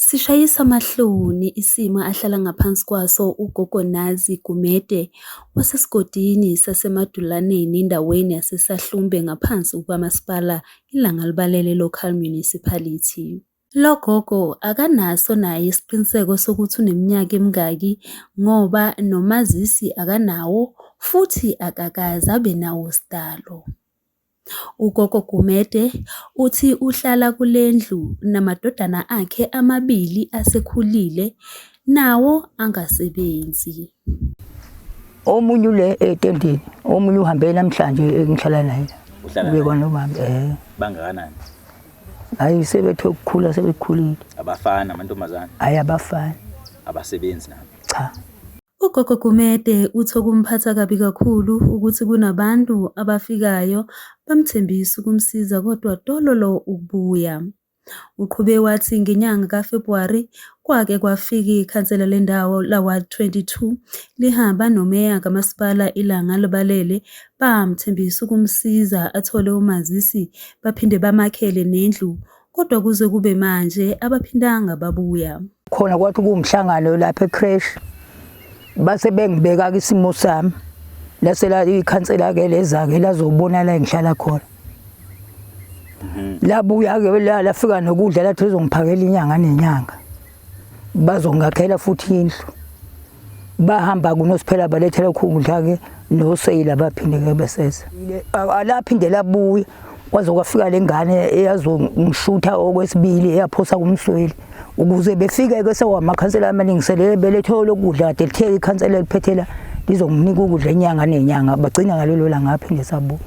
Sishayisa amahloni isimo ahlala ngaphansi kwaso uGogo Nazi Gumede wasesigodini saseMadulaneni endaweni yaseSahlumbe ngaphansi kukaMasipala iLangalibalele Local Municipality. Lo gogo akanaso naye isiqiniseko sokuthi uneminyaka emingaki ngoba nomazisi akanawo futhi akakaze abe nawo sidalo. UGogo Gumede uthi uhlala kule ndlu namadodana akhe amabili asekhulile nawo angasebenzi. Omunye ule etendeni, omunye uhambe namhlanje engihlala naye. Uhlala Ube kwanomama eh. Bangakanani? Hayi sebethe ukukhula sebekhulile. Abafana amantombazane. Hayi abafana. Abasebenzi nabo. Cha. UGogo Gumede uthi okumphatha kabi kakhulu ukuthi kunabantu abafikayo bamthembisa ukumsiza kodwa tololo ukubuya. Uqhube wathi ngenyanga kaFebhuwari kwake kwafika ikhansela lendawo laWard 22 lihamba nomeya kamasipala ilanga libalele bamthembisa ukumsiza athole umazisi baphinde bamakhele nendlu kodwa kuze kube manje abaphindanga babuya. Khona kwathi kuwumhlangano lapha ecrash base bengibeka isimo sami lase la ikhansela ke leza ke lazobona la ngihlala khona. Mhm. Labuya ke la lafika nokudla lathi uzongiphakela inyanga nenyanga. bazongakhela futhi indlu bahamba kunosiphela balethela ukudla ke noseyila baphinde ke beseza alaphinde labuye kwaze kwafika lengane eyazongishutha okwesibili eyaphosa kumsweli ukuze befike ke sewamakhansela amalingiselele belethe lokudla kade lithe ikhansela liphethela lizonginika ukudla inyanga nenyanga bagcina ngalelo langa aphinde sabuya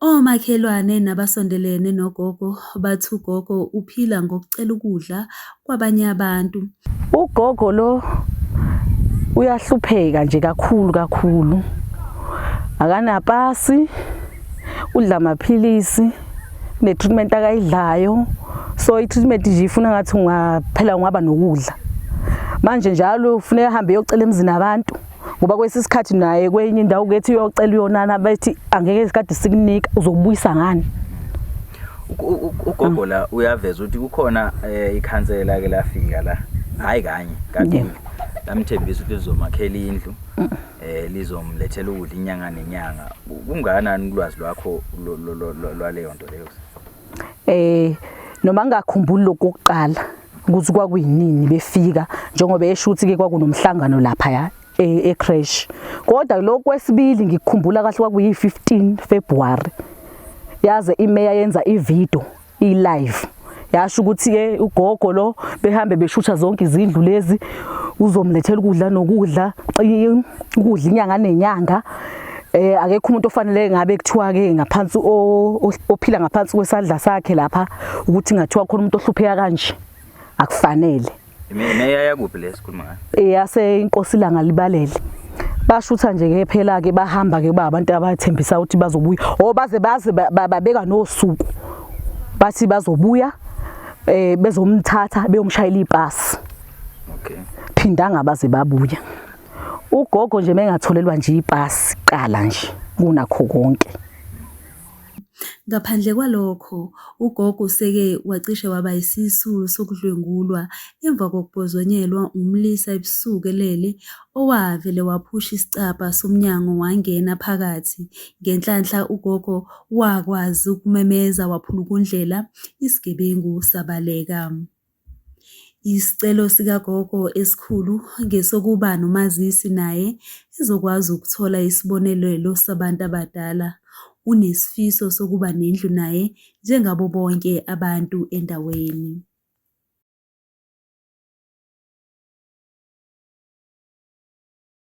Omakhelwane nabasondelene nogogo bathi ugogo uphila ngokucela ukudla kwabanye abantu. Ugogo lo uyahlupheka nje kakhulu kakhulu. Akanapasi, udla amaphilisi, ne-treatment akayidlayo. So i-treatment nje ifuna ngathi ungaphela ungaba nokudla. Manje njalo ufuneka ahambe eyocela emzini abantu. ngoba kwesinye isikhathi naye kwenye indawo kethi uyocela uyonana bethi angeke isikade sikunika uzobuyisa ngani ugogo la uyaveza ukuthi kukhona eh, ikhansela ke lafika la hayi kanye kade lamthembisa ukuthi lizomakhela indlu eh lizomlethela ukudla inyanga nenyanga kunganani ulwazi lwakho lwaleyo nto leyo eh noma ngingakhumbuli lokho kokuqala ukuthi kwakuyinini befika njengoba esho ukuthi ke kwakunomhlangano lapha ya e, e-crash kodwa lokho kwesibili ngikukhumbula kahle kwakuyi-15 February yaze imeya yenza ivideo i-live yasho ukuthi ke ugogo lo behambe beshutha zonke izindlu lezi uzomlethela ukudla nokudla ukudla inyanga nenyanga Eh akekho umuntu ofanele ngabe kuthiwa ke ngaphansi ophila ngaphansi kwesandla sakhe lapha ukuthi ngathiwa khona umuntu ohlupheka kanje akufanele. Mina yaya kuphi lesikhuluma ngayo? Eh yase inkosi langa libalele. bashutha nje ke phela ke bahamba ke ba abantu abathembisa ukuthi bazobuya o oh, baze baze babeka nosuku bathi bazobuya eh bezomthatha beyomshayela ipasi okay phindanga baze babuya Ugogo nje mengatholelwa nje ipasi qala nje kunakho konke. Ngaphandle kwalokho, uGogo useke wacishe waba yisisulu sokudlwengulwa emva kokubhozonyelwa umlisa ebusuku elele owavele waphusha isicabha somnyango wangena phakathi. Ngenhlanhla uGogo wakwazi ukumemeza waphulukundlela, isigebengu sabaleka. Isicelo sikagogo esikhulu ngesokuba nomazisi naye ezokwazi ukuthola isibonelelo sabantu abadala. Unesifiso sokuba nendlu naye njengabo bonke abantu endaweni.